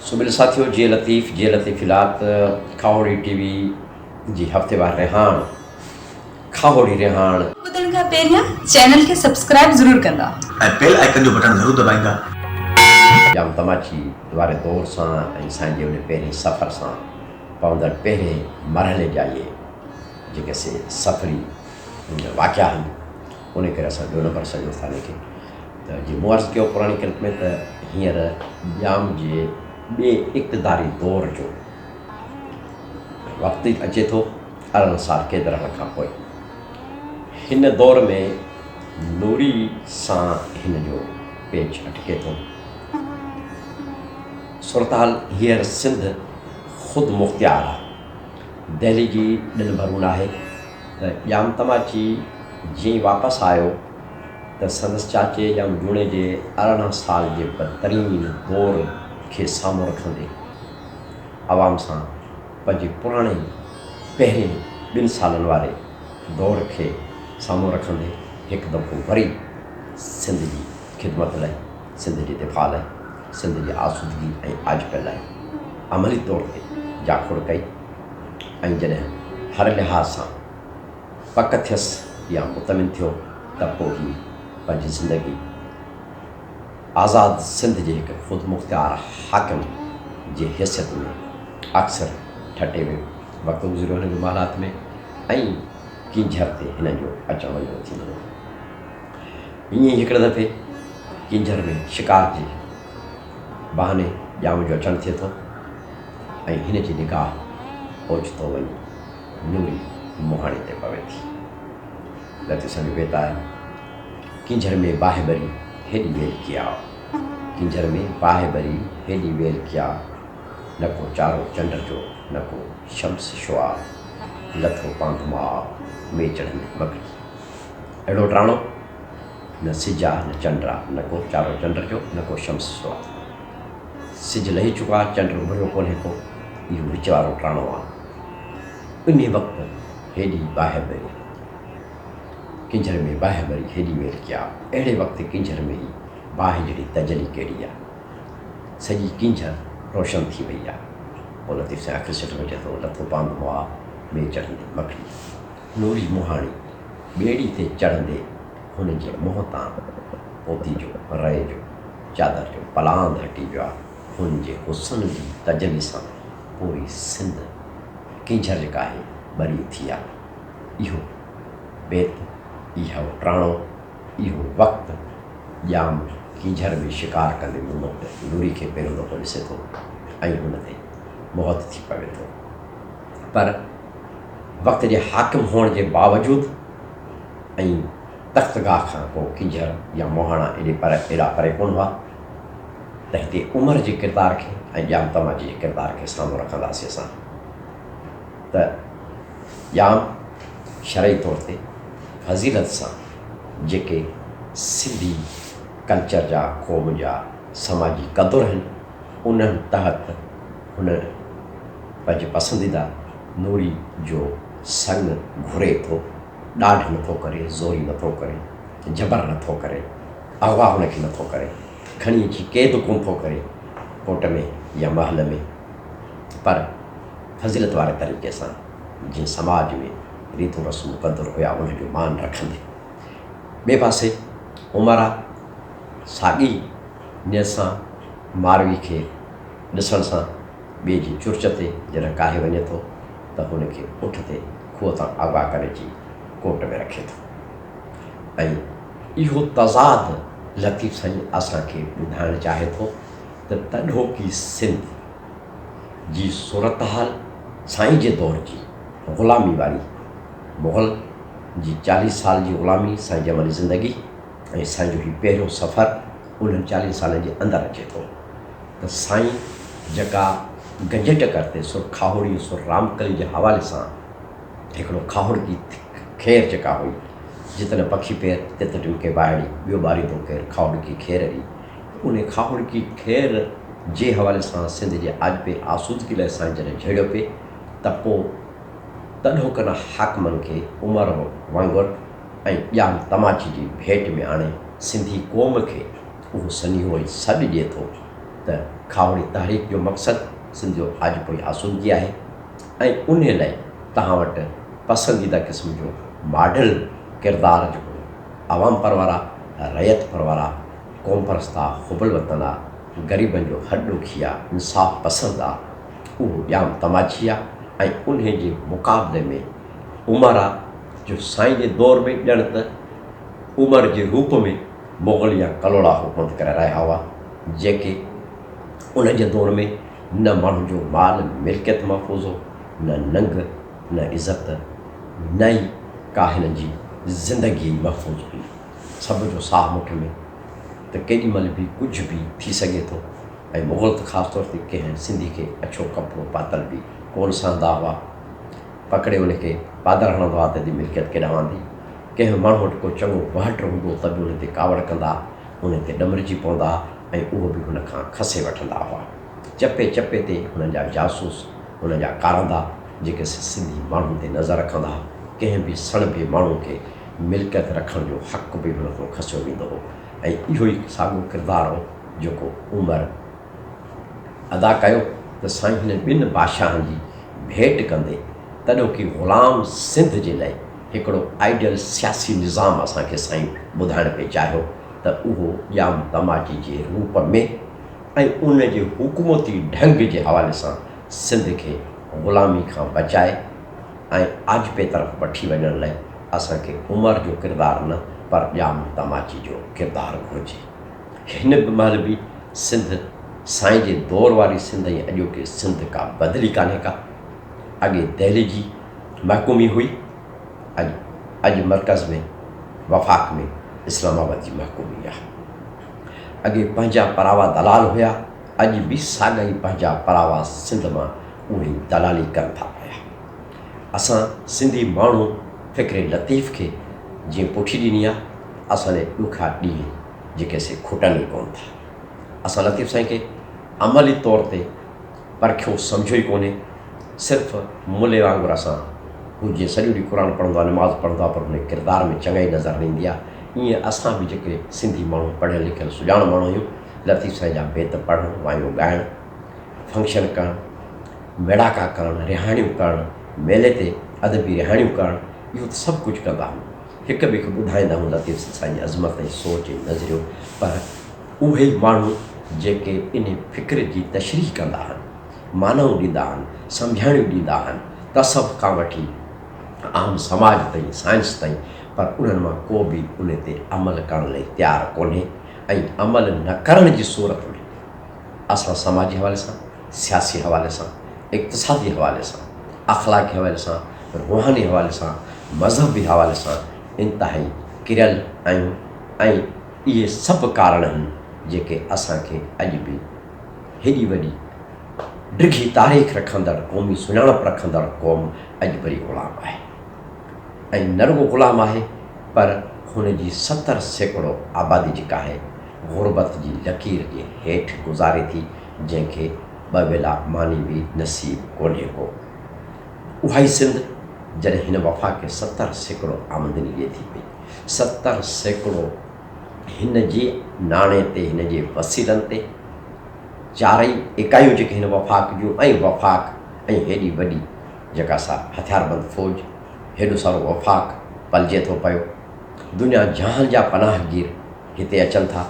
سو ميل ساٿيو جي لطيف جي لطيف لات کاوڙي ٽي وي جي هفتيوار رهاڻ کاهوڙي رهاڻ. ٻڌڻ کان پهريان چينل کي سبسڪرائب ضرور ڪندا. ۽ بيل آئيڪن جو بٽڻ ضرور دٻائيندا. ڄام تماچي واري دور سان ۽ سائين جي انهي پهرين سفر سان پوندڙ پهرين مرحلي جا اهي جيڪي سي سفري واقعا آهن انهي ڪري اسان ٻيو نمبر سڏيو ٿا انهي کي ته جي مون عرض ڪيو پراڻي ڪلپ ۾ ته هينئر ڄام جي ٻي اقتداري دور جو وقت اچي ٿو. ارڙهن سال قيد رهڻ کان پوء هن دور ۾ نوري سان هن جو پيچ اٽڪي ٿو. صورتحال هينئر سنڌ خود مختيار آ. دهلي جي ڏن ڀرون ناهي ته ڄام تماچي جيئن ئي واپس آيو ته سندس چاچي ڄام جوڻيجي ارڙهن سال جي بدترين دور کي سامهون رکندي عوام سان پنهنجي پراڻي پهرين ٻن سالن واري دور کي سامهون رکندي هڪ دفعو وري سنڌ جي خدمت لاء، سنڌ جي دفاع لاء، سنڌ جي آسودگي ۽ آجپي لاء عملي طور تي جاکوڙ ڪئي ۽ جڏهن هر لحاظ سان پڪ ٿيس يا مطمئن ٿيو ته پوء هي پنهنجي زندگي آزاد سنڌ جي هڪ خودمختيار حاڪم جي حيثيت ۾ اڪثر ٺٽي ۾ وقت گذريو هن جي محلات ۾ ۽ ڪينجهر تي هن جو اچڻ وڃڻ ٿيندو هو. ائين ئي هڪڙي دفعي ڪينجهر ۾ شڪار جي بهاني ڄام جو اچڻ ٿئي ٿو ۽ هن جي نگاهه اوچتو وڃي نوري مهاڻي تي پوي ٿي. لطيف سائين جو بيت آهي. ڪينجهر ۾ باهه بري هيڏي ويل ڪيا. ڪينجهر ۾ باهه بري هيڏي ويل ڪيا. نه ڪو چارو چنڊ جو نه ڪو شمس شعاع. لٿو پانڌ ماء مي چڙهند مڪڙي. اهڙو ٽراڻو نه سج آ نه چنڊ آ. نه ڪو چارو چنڊ جو نه ڪو شمس شعاع. سج لهي چڪو آ چنڊ اڀريو ڪونهي ڪو. اهو وچ وارو ٽراڻو آ. انهي وقت هيڏي باهه بري. ڪنجهر ۾ باهه مري هيڏي ويل ڪيا اهڙي وقت ڪنجهر ۾ ئي باهه جهڙي تجلي ڪهڙي آ سڄي ڪنجهر روشن ٿي وئي آ پوء لطيف سائين اک سٽ وجهي ٿو لٿو پاند مئا ۾ چڙهندي مکڙي نوري مهاڻي ٻيڙي تي چڙهندي هن جي منهن تان پوتي جو رئي جو چادر جو پلاند هٽي ويو آ هن جي حسن جي تجلي سان پوري سنڌ ڪنجهر جيڪا آهي ٻري اٿي آ. اهو بيت، اهو ٽراڻو، اهو وقت، ڄام ڪينجهر ۾ شڪار ڪندي محمد نوري کي پهريون دفعو ڏسي ٿو ۽ هن تي موهت ٿي پوي ٿو. پر وقت جي حاڪم هئڻ جي باوجود ۽ تخت گاهه کان ڪو ڪينجهر يا موهاڻا ايڏي پر ايڏا پري ڪونه هئا ته هتي عمر جي ڪردار کي ۽ ڄام تماچي جي ڪردار کي سامهون رکنداسين اسان ته ڄام شرعي طور تي فضيلت سان جيڪي سنڌي ڪلچر جا قوم جا سماجي قدر آهن انهن تحت هن پنهنجي پسنديده نوري جو سڱ گهري ٿو ڏاڍ نٿو ڪري زوري نٿو ڪري جبر نٿو ڪري اغوا هن کي نٿو ڪري کڻي اچي قيد ڪونه ٿو ڪري ڪوٽ ۾ يا محل ۾ پر فضيلت واري طريقي سان جيئن سماج ۾ ريتون رسم مقدر هيا انهن جو مان رکندي. ٻئي پاسي عمرا ساڳي نيت سان ماروي کي ڏسڻ سان ٻئي جي چرچ تي جڏهن ڪاهي وڃي ٿو ته هن کي اٺ تي کوهه تان آگاهه ڪري اچي ڪوٽ ۾ رکي ٿو ۽ اهو تضاد لطيف سائين اسان کي ٻڌائڻ چاهي ٿو ته تڏهوڪي سنڌ جي صورتحال سائين جي دور جي غلامي واري مغل جي چاليهه سال جي غلامي سائين جي عملي زندگي ۽ سائين جو هي پهريون سفر انهن چاليهن سالن جي اندر اچي ٿو ته سائين جيڪا گنجي ٽڪر تي سر کاهوڙي سر رامڪلي جي حوالي سان هڪڙو کاهوڙ جي کير جيڪا هئي جتن پکي پير تت ٽن کي وائڙي ٻيو ٻاريندو ڪير کاهوڙ جي کير ري انهيء کاهوڙڪي خير جي حوالي سان سنڌ جي آجپي آسودگي لاء سائين جڏهن جهيڙيو پئي ته پوء تڏهوڪن حاڪمن کي عمر وانگر ۽ ڄام تماچي جي ڀيٽ ۾ آڻي سنڌي قوم کي اهو سنيهو ۽ سڏ ڏئي ٿو ته کاهوڙي تحريڪ جو مقصد سنڌ جو آجپوئي آسودگي آهي ۽ انهيء لاء توهان وٽ پسنديده قسم جو ماڊل ڪردار جهڙو عوام پرورا، رعيت پرورا، قوم پرست آ، حب الوطن آ، غريبن جو هڏ ڏوکي آ، انصاف پسند آ، اهو ڄام تماچي آ ۽ انهي جي مقابلي ۾ عمر آ جو سائين جي دور ۾ ڄڻ ته عمر جي روپ ۾ مغل يا ڪلهوڙا حڪومت ڪري رهيا هئا، جيڪي انهن جي دور ۾ نه ماڻهن جو مال ملڪيت محفوظ هو، نه ننگ، نه عزت نه ئي ڪاهنن جي زندگي محفوظ هئي. سڀ جو ساهه مٺ ۾ ته ڪيڏي مهل به ڪجهه به ٿي سگهي ٿو ۽ مغل ته خاص طور تي ڪنهن سنڌي کي اڇو ڪپڙو پاتل به ڪونه سهندا هئا پڪڙي ان کي پادر هڻندا هئا ته جي ملڪيت ڪيڏانهن واندي ڪنهن ماڻهو وٽ ڪو چڱو وهٽ هوندو ته به ان تي ڪاوڙ ڪندا ان تي ڏمرجي پوندا ۽ اهو به هن کان کسي وٺندا هئا چپي چپي تي هنن جا جاسوس هنن جا ڪارندا جيڪي سنڌي ماڻهن تي نظر رکندا ڪنهن به سڻڀي ماڻهو کي ملڪيت رکڻ جو حق به هن کان کسيو ويندو هو ۽ اهو ئي ساڳيو ڪردار هو جيڪو عمر ادا ڪيو ته سائين هنن ٻن بادشاهن جي ڀيٽ ڪندي تڏهوڪي غلام سنڌ جي لئه هڪڙو آئيڊيل سياسي نظام اسان کي سائين ٻڌائڻ پئي چاهيو ته اهو ڄام تماچي جي روپ ۾ ۽ ان جي حڪومتي ڍنگ جي حوالي سان سنڌ کي غلامي کان بچائي ۽ آجپي طرف وٺي وڃڻ لئه اسان کي عمر جو ڪردار نه پر ڄام تماچي جو ڪردار گهرجي. هن به مهل به سنڌ سائين جي دور واري سنڌ ۽ اڄوڪي سنڌ ڪا بدلي ڪانهي ڪا. اڳي دهلي جي محڪومي هئي اڄ اڄ مرڪز ۾ وفاق ۾ اسلام آباد جي محڪومي آهي. اڳي پنهنجا پراوا دلال هيا اڄ به ساڳا ئي پنهنجا پراوا سنڌ مان اهڙي دلالي ڪن ٿا پيا. اسان سنڌي ماڻهو فڪر لطيف کي جيئن پٺي ڏني آ، اسان جي ڏکا ڏينهن جيڪي سي کٽن ئي ڪون ٿا. اسان لطيف سائين کي عملي طور تي پرکيو سمجهيو ئي ڪونهي، صرف ملي وانگر اسان هو جيئن سڄو ڏينهن قرآن پڙهندو آ، نماز پڙهندو آ پر هن جي ڪردار ۾ چڱائي نظر نه ايندي آ، ايئن اسان به جيڪي سنڌي ماڻهو پڙهيل لکيل سڄاڻ ماڻهو آهيون، لطيف سائين جا بيت پڙهڻ، وايون ڳائڻ، فنڪشن ڪرڻ، ميڙاڪا ڪرڻ، رهاڻيون ڪرڻ، ميلي تي ادبي رهاڻيون ڪرڻ، اهو ته سڀ ڪجهه ڪندا هئون. هڪ ٻئي کي ٻڌائيندا هئون لطيف سائين جي عظمت ۽ سوچ ۽ نظريو پر اهي ئي ماڻهو جيڪي انهي فڪر جي تشريح ڪندا هن، معنائون ڏيندا هن، سمجهاڻيون ڏيندا هن، تصوف کان وٺي عام سماج تائين، سائنس تائين پر انهن مان ڪو به انهي تي عمل ڪرڻ لئي تيار ڪونهي. ۽ عمل نه ڪرڻ جي صورت ۾ اسان سماجي حوالي سان، سياسي حوالي سان، اقتصادي حوالي سان، اخلاقي حوالي سان، روحاني حوالي سان، مذهبي حوالي سان انتهائي ڪريل آهيون ۽ اهي سڀ ڪارڻ آهن جيڪي اسان کي اڄ به هيڏي وڏي ڊگهي تاريخ رکندڙ قومي سڃاڻپ رکندڙ قوم اڄ وري غلام آهي. ۽ نه رڳو غلام آهي پر هن جي ستر سيڪڙو آبادي جيڪا آهي غربت جي لڪير جي هيٺ گذاري ٿي جنهن کي ٻه ويلا ماني به نصيب ڪونهي ڪو اهائي سنڌ جڏهن هن وفاق کي ستر سيڪڙو آمدني ڏئي ٿي پئي ستر سيڪڙو هن جي ناڻي تي هن جي وسيلن تي چارئي اڪايون جيڪي هن وفاق جون ۽ وفاق ۽ هيڏي وڏي جيڪا سا هٿياربند فوج، هيڏو سارو وفاق پلجي ٿو پيو. دنيا جهان جا پناهگير هتي اچن ٿا.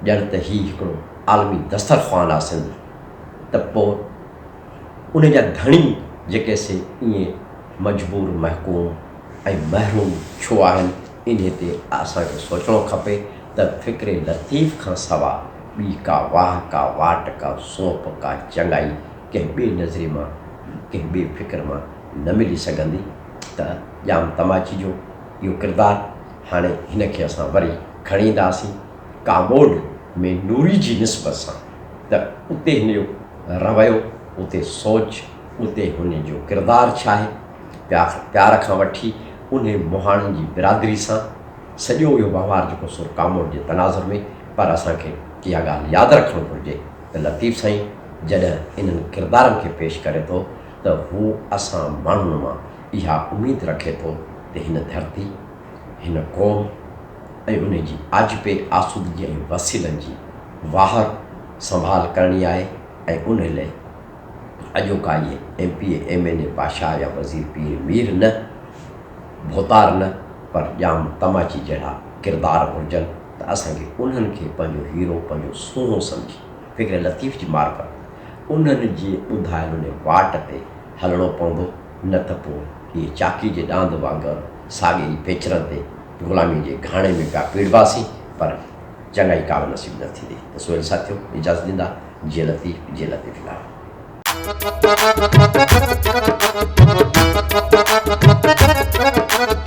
ڄڻ ته هي هڪڙو عالمي دسترخوان آ سنڌ. ته پوء ان جا ڌڻي جيڪي سي ائين مجبور محڪوم ۽ محروم ڇو آهن؟ انهي تي اسان کي سوچڻو کپي ته فڪر لطيف کان سوا ٻي ڪا واهه، ڪا واٽ، ڪا سونپ، ڪا چڱائي، ڪنهن ٻئي نظري مان، ڪنهن ٻئي فڪر مان نه ملي سگهندي ته ڄام تماچي جو اهو ڪردار هاڻي هن کي اسان وري کڻي اينداسين ڪاموڏ ۾ نوري جي نسبت سان ته اتي هن جو رويو، اتي سوچ، اتي هن جو ڪردار ڇاهي پيار کان وٺي انهي مهاڻن جي برادري سان سڄو اهو وهنوار جيڪو سو ڪاموڏ جي تناظر ۾ پر اسان کي اها ڳالهه ياد رکڻ گهرجي. ته لطيف سائين جڏهن انهن ڪردارن کي پيش ڪري ٿو ته هو اسان ماڻهن مان اها اميد رکي ٿو ته هن ڌرتي، هن قوم ۽ ان جي آجپي آسودگي ۽ وسيلن جي واهر سنڀال ڪرڻي آهي ۽ ان لئه اڄوڪا اهي M P A, M N A, بادشاهه يا وزير پير مير نه، ڀوتار نه پر ڄام تماچي جهڙا ڪردار گهرجن. ته اسان کي انهن کي پنهنجو هيرو، پنهنجو سونهن سمجهي فڪر لطيف جي معرفت انهن جي ٻڌايل ان واٽ تي هلڻو پوندو نه ته پوء اهي چاڪي جي ڏاند وانگر ساڳي ئي پيچرن تي غلاميء جي گهاڻي ۾ پيا پيڙباسين پر چڱائي ڪالهه نصيب نه ٿيندي ته سهيل ساٿيو اجازت ڏيندا جي لطيف جي لطيف لاڙ.